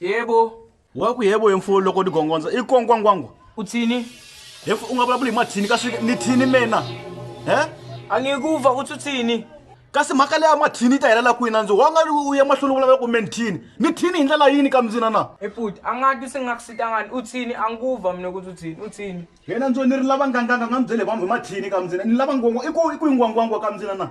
yebo wa ku yebo yemfuwo loko ni gongondza i konkwangwangu u thini hefu u nga vulavuli hi mathini kasi ni thini mina he a nge ku va u tsutsini kasi mhaka leya mathini yi ta helela kwini a ndzi wa nga u ya mahlweni u vulavula ku menthini ni thini hi ndlela yini ka mzina na efuti a nga ti si nga kusitangani u tshini a ngu va mina ku tsutsini u tshini yena ndzo ni ri lava nganganga nga mi byele vanhu hi mathini ka mzina ni lava ngwangwa i ku i ku yingwangwangwa ka mzina na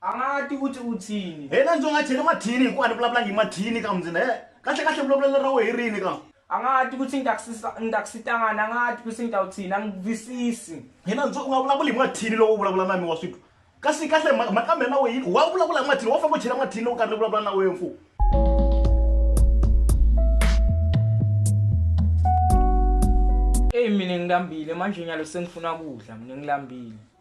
a nga ti u ti u tshini he na ndzi nga cheli mathini hikuva a ni vulavulangi hi mathini ka mundzina he kahle kahle vulavulelo ra wehe rini ka a nga ti ku tshini ni ta ku sitangana a nga ti ku tshini ta u tshini a ngi twisisi he na ndzi u nga vulavuli hi mathini lowo vulavula na mi wa switwa kasi kahle mhaka mina na wehe yini wa vulavula hi mathini wa famba u chela mathini lowu karhi ni vulavula na wehe mfumo eyi mina ngilambile manjhenyalo sengifuna kudla mina ngilambile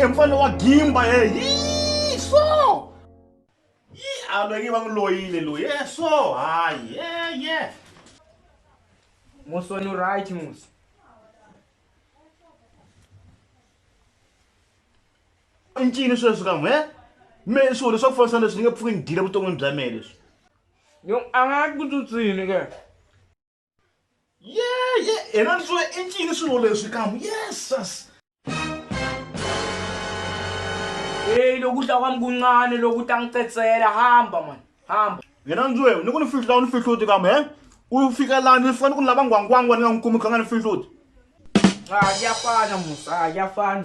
e mfana wa gimba ye hi so yi a loyi va n'wi loyile loyi e so hayi ye ye musi wena u right musi i ncini sweswi ka n'we me swilo leswi swa ku fambisana leswi ni nge pfuki ni dyile vuton'wini bya mehe leswi yo a nga ku tsutsini ke ye ye yena ni swo i ncini swilo leswi kamu yesus eyi loku ta kwami kuncane loku ta ni cetsela hamba mani hamba yena ni swo ni ku ni fihla ni fihluti kamu he u fika laha ni fika ni ku ni lava ngwangwangwa ni nga n'wi kumi kha nga ni fihluti a ya fana musa a ya fana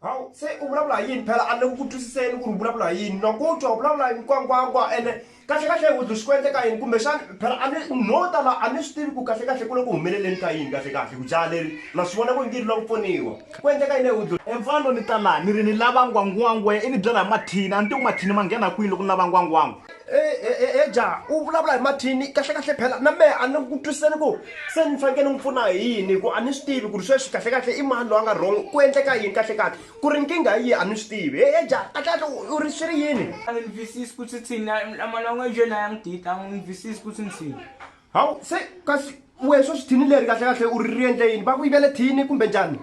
hawu se u vulavula hi yini phela a ni ku twisiseni ku ri vulavula hi yini loko u twa vulavula hi mikwangwangwa ene kahlekahle hi swi ku endle ka yini kumbexana phela a ni no tala a ni swi tivi ku kahlekahle ku le ku humeleleni ka yini kahlekahle ku jaha leri na swi vona ku ngiri la ku pfuniwa ku endleka yini ehudlo emfano ni ta laha ni ri ni lava ngwangwangwa i ni byela hi mathini a ni tivi mathini ma nghena kwini loko ni lava ngwangwangwa eja u vulavula hi mathini kahlekahle phela na mehe a ni ku twisiseni ku se ni fanekele ni n'wi pfuna hi yini hi ku a ni swi tivi ku ri sweswi kahlekahle i mani loyi a nga wrong ku endleka yini kahlekahle ku ri nkingha yi a ni swi tivi he eja kahlekahle u ri swi ri yini a ni twisisi ku swi tsini mana n'we njhe laya n'wi dita a ni twisisi ku swi ni tsini hawu se kasi wehe sweswi thini leri kahlekahle u ri ri endle yini va ku yivele thini kumbe njhani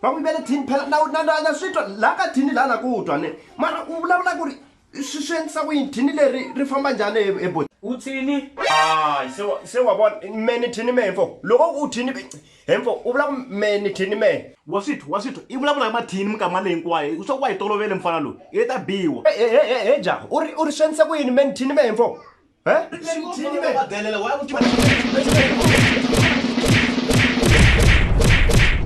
va ku yivele thini phela na na na na swi twa laha ka thini laha na ku twa ne mara u vulavula ku ri swi swi endlisa ku yini thini leri ri famba njhani e bot u thini hayi se wa se wa vona me ni thini me mfo loko u thini he mfo u vula ku me ni thini me wa swithu wa swithu i vulavula hi mathini minkama leyi hinkwayo u swa ku wa hi tolovele mfana loyi i ta biwa he ja u ri u ri swi endlisa ku yini me ni thini me he mfo he thini me wa ku